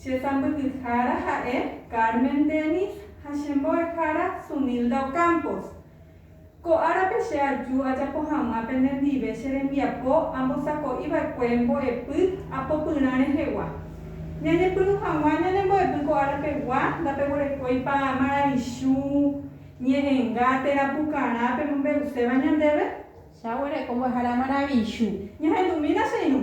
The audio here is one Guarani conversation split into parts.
Che sãmbyhyhára ha'e Carmen Dennis ha che mbo'ehára Sunilda Ocampos. Ko árape che aju ajapo hag̃ua penendive che rembiapo ambosako'i va'ekue mbo'epy apopyrã rehegua. Ñañepyrũ hag̃ua ñane mbo'epy ko árapegua ndapeguerekóipa maravichu, ñe'ẽnga térã pukarã pemombe'uséva ñandéve? Chaguereko mbo'ehára maravichu. Ñahendumína che irũ.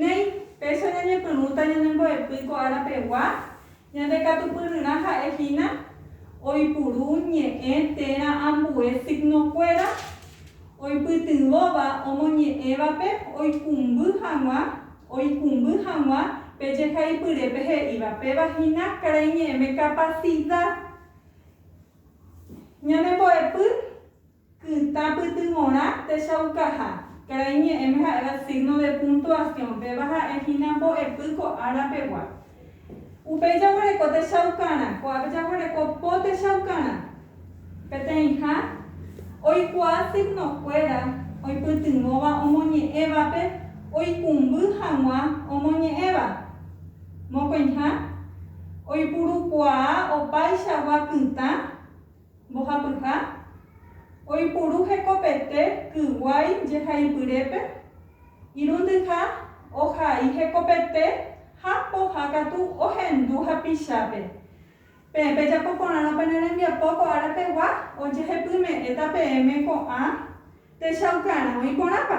Néi, péicha ñañepyrũta ñane mbo'epy ko ára pegua, ñande katupyryrã ha'e hína oipuru ñe'ẽ térã ambue signo kuéra oipytyvõva omoñe'ẽvape oikumby hag̃ua oikumby hag̃ua pe jehaipyrépe he'íva péva hína karai ñe'ẽme capacidad ñane mbo'epy Kytã pytyvõrã techaukaha. Karai ñe'ẽme ha'éva signo de puntuación, péva ha'e hína mbo'epy ko ára pegua. Upéi jaguereko techaukarã, ko'ápe jaguereko po techaukarã. Peteĩha oikuaa signo kuéra oipytyvõva omoñe'ẽvape oikumby hag̃ua omoñe'ẽva. Mokõiha oipurukuaa opaichagua kytã. Mbohapyha, oipuru hekopete kyguái jehaipyrépe, irundyha ohai hekopete ha poha katu ohendu hapichápe. Peẽ pejapo porãrõ pene rembiapo ko ára pegua ojehepyme'ẽta peẽme ko'ã techaukarã oĩ porãpa?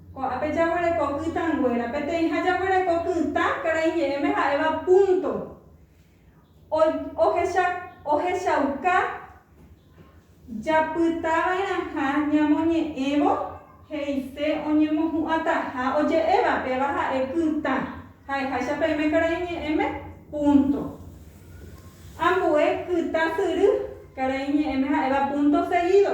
Ko'ápe jaguereko kytãnguéra. Peteĩha jaguereko kytã karai ñe'ẽme ha'éva púnto. Ohecha, ohechauka japytava'erãha ñamoñe'ẽvo he'ise oñemohu'ãtaha oje'éva péva ha'e kytã, ha'eháicha peẽme karai ñe'ẽme, púnto. Ambue kytã syry karai ñe'ẽme ha'éva púnto segído.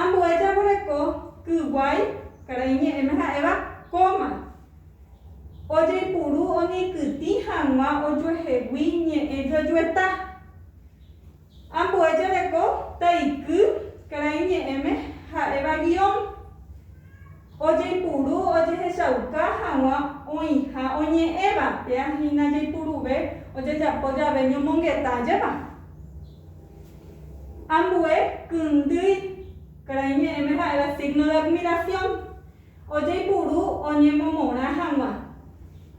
Ambue jaguereko kyguái karai ñe'ẽme ha'éva kóma. Ojeipuru oñeikytĩ hag̃ua ojuehegui ñe'ẽ juejueta. Ambue jareko taiky karai ñe'ẽme ha'éva guión. Ojeipuru ojehechauka hag̃ua oĩha oñe'ẽva, péa hína jaipuruve ojejapo jave ñomongeta jeva. Ambue kyndýi karai ñe'ẽme ha'éva signo de admiración, ojeipuru oñemomorã hag̃ua.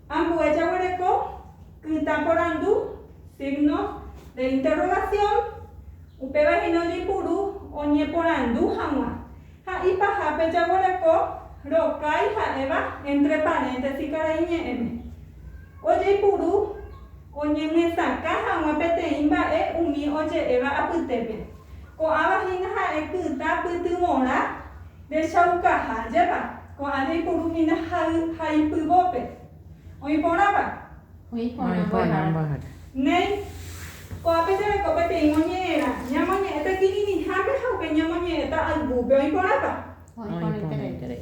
Ambue jaguereko kytã porandu, signo de interrogación, upéva hína ojeipuru oñeporandu hag̃ua. Ha ipahápe jaguereko rokái ha'éva entre paréntesi karai ñe'ẽme, ojeipuru. Oñemyesakã hag̃ua peteĩ mba'e umi oje'éva apytépe. Ko'ãva hína ha'e kytã pytyvõrã rechaukaha jeva, ko'ã jaipuru hína jay ha ipyvópe. Oĩ porãpa? Oĩ porã mbo'ehára. Néi, ko'ápe jereko peteĩ moñe'ẽrã, ñamoñe'ẽ pe kirirĩhápe ha upéi ñamoñe'ẽta aygúpe. Oĩ porãpa? Oĩ porãiterei.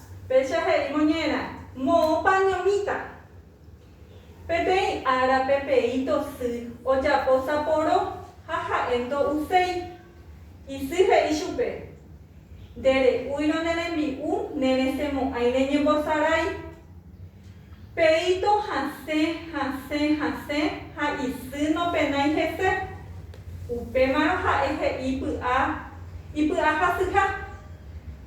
Péicha he'i moñera, Moõpa ñomíta. Peteĩ ára peteĩto sy ojapo saporo ha ha'e ndo'uséi. Isy he'i chupe, Nde re'úirõ ne rembi'u ne resẽmo'ãi reñembosarái. Peíto hasẽ, hasẽ, hasẽ ha isy nopenái hese. Upémarõ ha'e he'i py'a ipy'ahasyha.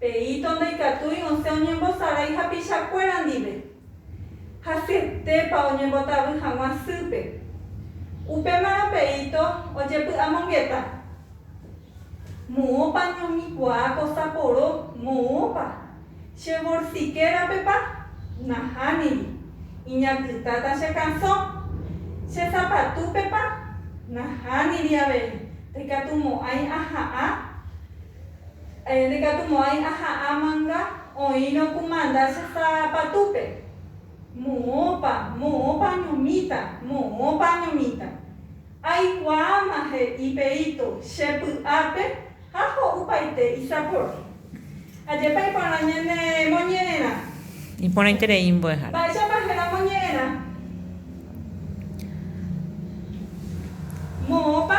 Pe hito ndaikatúi osẽ oñembosarái hapichakuéra ndive. Hasyetépa oñembotavy hag̃ua sýpe. Upémarõ pe hito ojepy'amongeta. Moõpa ñohikuaa ko saporo, moõpa. Che vorsike rapepa? Nahániri. Iñakytáta che kasõ. Che zapatúpepa? Nahániri avei. Ndaikatumo'ãi aha'ã. Nekatu mo'ãi aha'ã manga oĩrõ ku manda che sa patúpe. Moõpa, moõpa añomíta, moõpa añomíta. Aikuaáma he'i Perito che py'ápe ha ho'upaite isapor. Ajépa iporã ñane moñe'ẽrã. Iporãiterei mbo'ehára. Mba'éichapa héra moñe'ẽrã. Moõpa.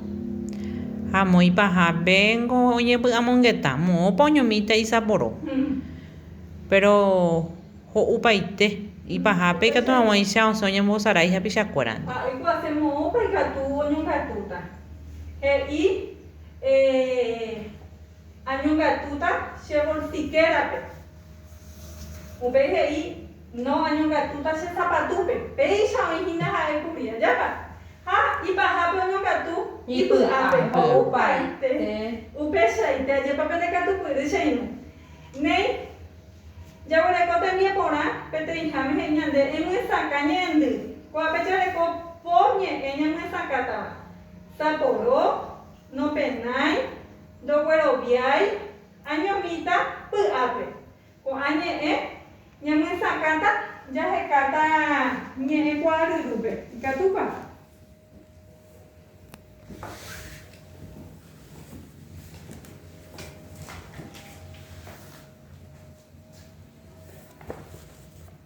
Ha moĩ pahápe niko oñepy'amongeta, moõpa oñomíta isaporo. Péro ho'upaite, ipahápe ikatu hag̃uáicha osẽ oñembosarái hapichakuérandi. Ha oikuaase moõpa ikatu oñongatúta. He'i, Añongatúta che bolsikérape. Upéi he'i. No añongatuta che sapatúpe, péicha oĩ hína ha'e kuri. Ajápa! Ha ipahápe oñongatu ipy'ápe, ho'upaite, upeichaite. Ajépa pene katupyry che irũ! Néi, jaguereko tembiaporã peteĩháme he'i ñande, Emyesakã ñe'ẽndy. Ko'ápe jareko po ñe'ẽ ñamyesakátava, Saporo, nopenái, ndogueroviái, añomíta py'ápe. Ko'ã ñe'ẽ ñamyesakãta jahekáta ñe'ẽ kuaaryrúpe. Ikatúpa?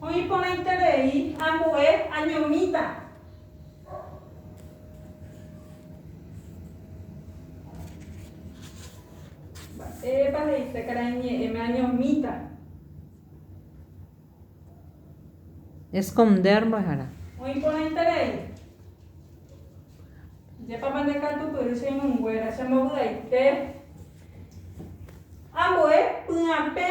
Oĩ porãiterei ambue añomíta. Mba'épa he'ise karai ñe'ẽme añomíta? Esconder mbo'ehára. Oĩ porãiterei. Jepápa nde katupyry che irũnguéra, che mbovy'aite. Ambue py'apẽ.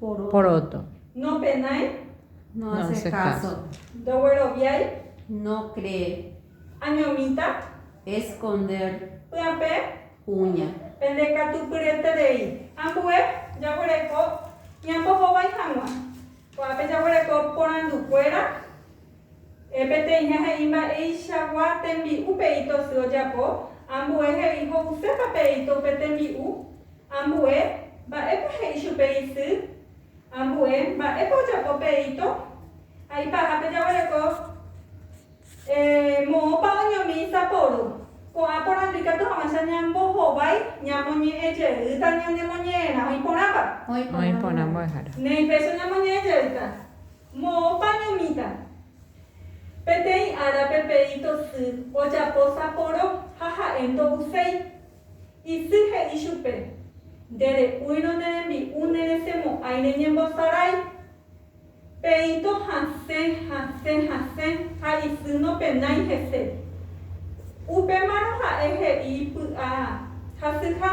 Poroto. Nopenái. No hace caso. Ndogueroviái. No cree. Añomíta. Esconder. Py'ape. Kuña. Pende katupyreterei. Ambue jaguereko ñambohovái hag̃ua. Ko'ápe jaguereko porandukuéra E Peteĩ he'i mba'eichagua tembi'u pe'íto asy ojapo, ambue he'i ho'usépa pe'íto upe tembi'u, ambue mba'épa he'i chupe isy, ambue mba'épa ojapo pe'íto, ha ipahápe jaguereko e moõpa oñomi isaporu. Ko'ã porandu ikatu hag̃uáicha ñambohovái ñamoñe'ẽ jeýta ñanemoñe'ẽrã oĩ porãva. Oĩ porã mbo'ehára. Néi péicha ñamoñe'ẽ jeýta. Moõpa ñomita? Peteĩ ára pepeíto sy ojapo saporo ha ha'e ndo'uséi. Isy he'i chupe, Nde re'úirõ ne rembi'u ne resemo'ãi reñembosarái. Peíto hasẽ, hasẽ, hasẽ ha isy nopenái hese. Upémarõ ha'e he'i py'a hasyha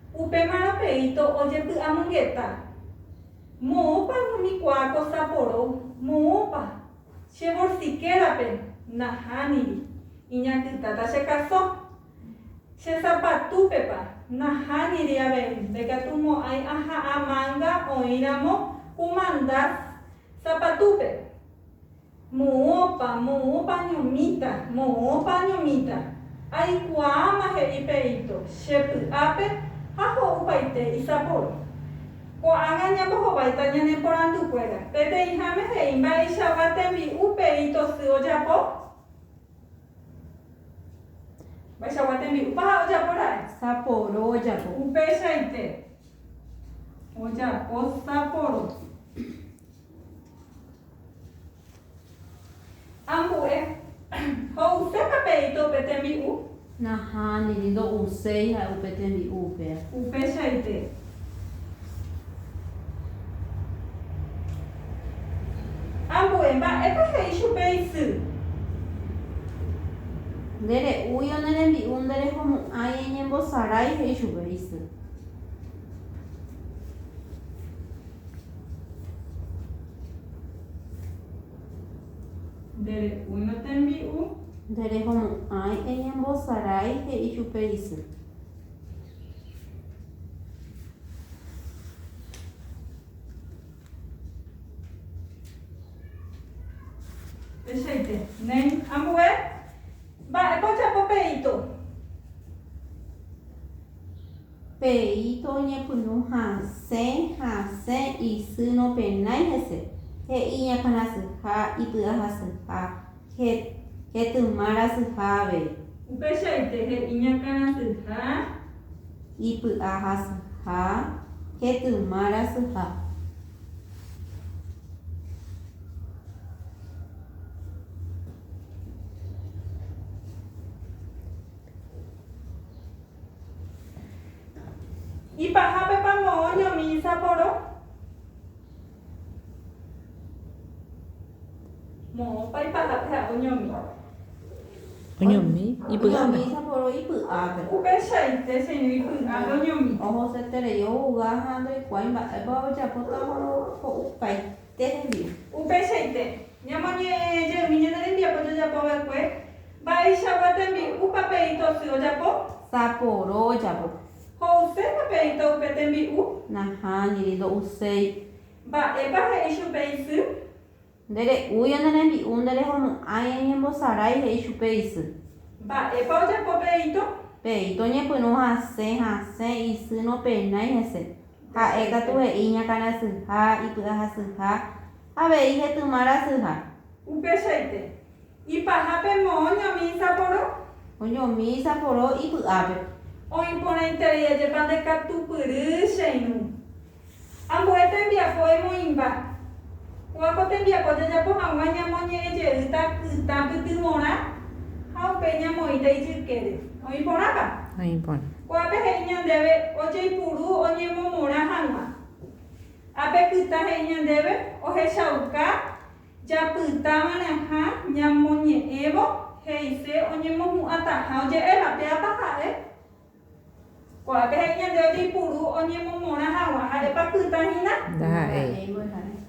Upéma rapeíto ojepy'amongeta, Moõpa umi kuaa ko Sapporo? Moõpa? Che vorsikérape nahániri, iñakytáta che kaso. Che zapatúpepa nahániri avei, ndaikatumo'ãi aha'ã manga oĩramo kumanda zapatúpe. Moõpa, moõpa añomíta, moõpa añomíta. Aikuaáma he'i Pe'íto, che py'ápe ha ho'upaite isapórõ. Ko'ág̃a ñambohováita ñane porandukuéra, peteĩháme he'i mba'eichagua tembi'u Pe'íto sy ojapo? Mba'eichagua tembi'úpa ha ojapo ra'e? Sapórõ ojapo. Upeichaite, ojapo sapórõ. Ambue, ho'usépa pe ito upe tembi'u? Nahániri, ndo'uséi ha'e upe tembi'u upéva. Upeichaite. Ambue, mba'épa he'i chupe isy? Nde re'úi o ne rembi'u nde rehomu'ãi eñembosarái, he'i chupe isy. Ndere'úirõ tembi'u. Nderehomo'ãi eñembosarái, he'i chupe isy. Tuichaite. Néi ambue. Mba'épa ojapo pe ito? Pe'íto oñepyrũ hasẽ hasẽ isy nopenái hese, he'i iñakãrasyha ipy'ahasyha hetyma rasyha avei. Upeichaite he'i iñakãrasyha. Ipy'ahasyha hetyma rasyha. Ipahápepa moõ ñomísa poro? Moõpa ipahápe ha oñomi. Oñomi ipy'ápe. Ñomísa poro ipy'ápe. Upeichaite che irũ ipy'ápe oñomi. Ohoseterei ouga ha ndoikuaái mba'épa ojapóta ho'u kái. Che hembi'u. Upeichaite, ñamoñe'ẽ jeými ñane rembiapo jajapo va'ekue, mba'eichagua tembi'u papeíto sy ojapo? Saporo ojapo. Ho'use papeíto upe tembi'u? Nahániri, ndo'uséi. Mba'épa he'i chupe isy? Nde re'úi ane rembi'u, nde rehomo'ãi eñembosarái, he'i chupe isy. Mba'épa ojapo peíto? Peíto oñepyrũ hasẽ, hasẽ, isy nopenái hese. Ha'e katu he'i ñakãrasyha, ipy'ahasyha, avei hetyma rasyha. Upeichaite, ipaha pe moõ ñomi isaporo. Oñomi isaporo ipy'ápe. Oĩ porãiterei ajépa ndekatupyry che irũ. Ambue tembiapo emoĩmba. Kóa ko tembiapo jajapo hag̃ua ñamoñe'ẽ jeýta ytã pytyvõrã ha upéi ñamoĩta ijykére. Oĩ porãpa? Oĩ porã. Ko'ápe he'i ñandéve ojeipuru oñemomorã hag̃ua. Ha pe kytã he'i ñandéve ohechauka japyta va'erãha ñamoñe'ẽvo he'ise oñemohu'ãtaha oje'éva. Péapa ha'e? Ko'ápe he'i ñande ojeipuru oñemomorã hag̃ua. Ha'épa kytã hína? Ndaha'éi.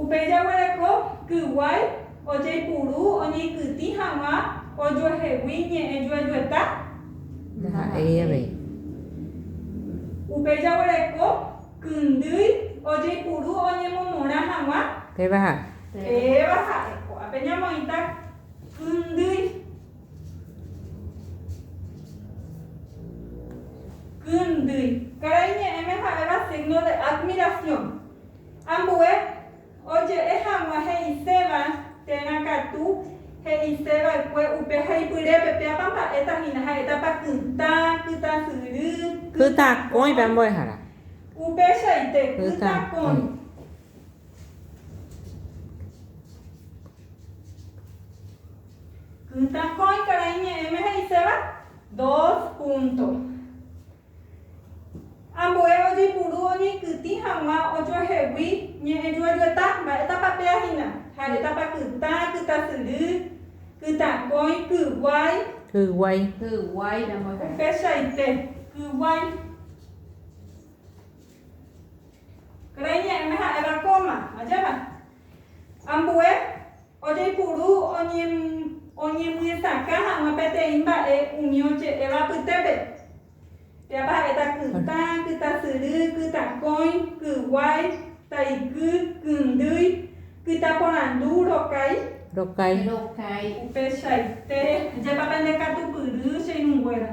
Upéi jaguereko kyguái ojeipuru oñeikytĩ hag̃ua ojuehegui ñe'ẽ juejueta? Ndaha'éi avei. Upéi jaguereko kyndýi ojeipuru oñemomorã hag̃ua? Péva ha'e. Péva ha'e. Ko'ápe ñamoĩta kyndýi. Kyndýi. Karai ñe'ẽme ha'éva signo de admiración. Ambue oje'e hag̃ua he'iséva térã katu he'iseva'ekue upe haipyrépe, péapa mba'éta hína, ha'étapa kytã, kytasyry, kytakõi. Upeichaite, kytakõi. Kytakõi karai ñe'ẽme he'iséva, dos punto. Ambue ojeipuru oñeikytĩ hag̃ua ojuehegui ñe'ẽjuejueta, mba'étapa péa hína? Ha'étapa kytã, kytasyry, kytãkõi, kyguái? Kyguái. Kyguái. Upechaite. Kyguái. Karai ñe'ẽme ha'éva kóma. Ajépa? Ambue. Ojeipuru oñemyesakã hag̃ua peteĩ mba'e umi oje'éva apytépe. Péapa ha'éta kytã, kytasyry, kytakõi, kyguái, taiky, kyndýi, kytaporandu, rokái. Rokái. Upechaite. Ajépa pende katupyry che irũnguéra.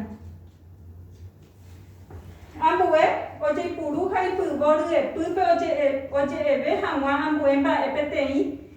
Ambue ojeipuru ha ipyvo ryepýpe oje'eve hag̃ua ambue mba'e peteĩ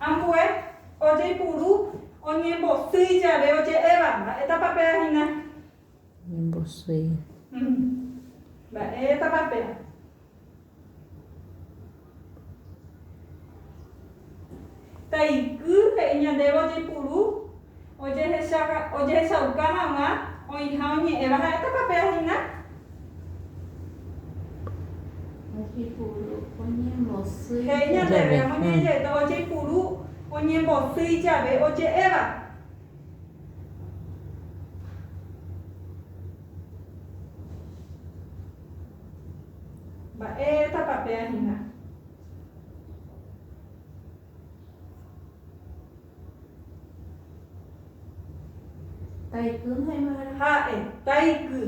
Ambue ojeipuru oñembosýi jave oje'éva, mba'étapa péva hína? Oñembosýi. Mba'étapa péva? Taiky he'i ñandéve ojeipuru. ojehechauka hag̃ua oĩha oñe'ẽva ha'étapa pe ahina? He'i ñandéve amoñaijey ojeipuru oñembosýi jave oje'éva. Mba'étapa pe ahina? Taiky maymára. Ha'e. Taiky.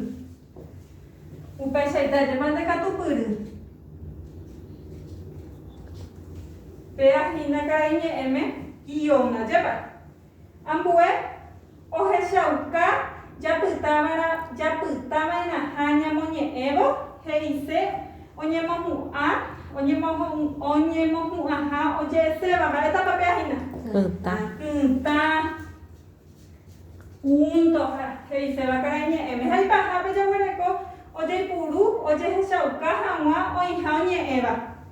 Upeichaitéjema nde katupyry. Péa hína karai ñe'ẽme ióna, jepare. Ambue Ohechauka japytáva'erã japytava'erãha ñamoñe'ẽvo, he'ise oñemohu'ã, oñemohu'ãha oje'eséva, mba'épa pe ahína? Kytã. Kytã, kúntoha, he'iséva karai ñe'ẽme. Ha ipahápe jaguereko ojeipuru, ojehechauka hag̃ua oĩha oñe'ẽva.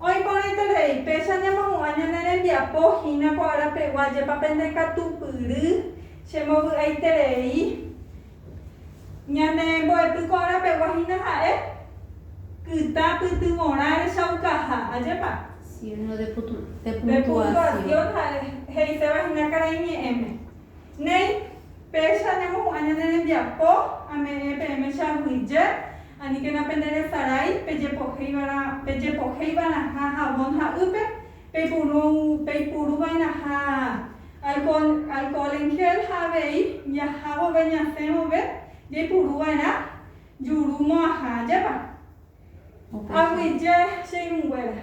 Oĩporãiterei, péicha ñamohu'ã ñane rembiapo hína ko ára pegua, jepa pende katupyry che mbovy'aiterei ñane mbo'epy ko ára pegua hína ha'e kytã pytyvõrã rechaukaha. Ajépa? Signo de puntuación ha'e he'iséva hína karai ñe'ẽme. Néi, péicha ñamohu'ã ñane rembiapo, ame'ẽ peẽme che aguyje, Aníkena penderesarái pejepohéivara, pejepohéiva'erãha havón ha'ýpe, peipuru, peipuruva'erãha alcohol, alcohol en gel ha avei jaha vove, ñasẽ vove jaipuruva'erã juru mo'ãha ajépa. Aguyje che irũnguéra.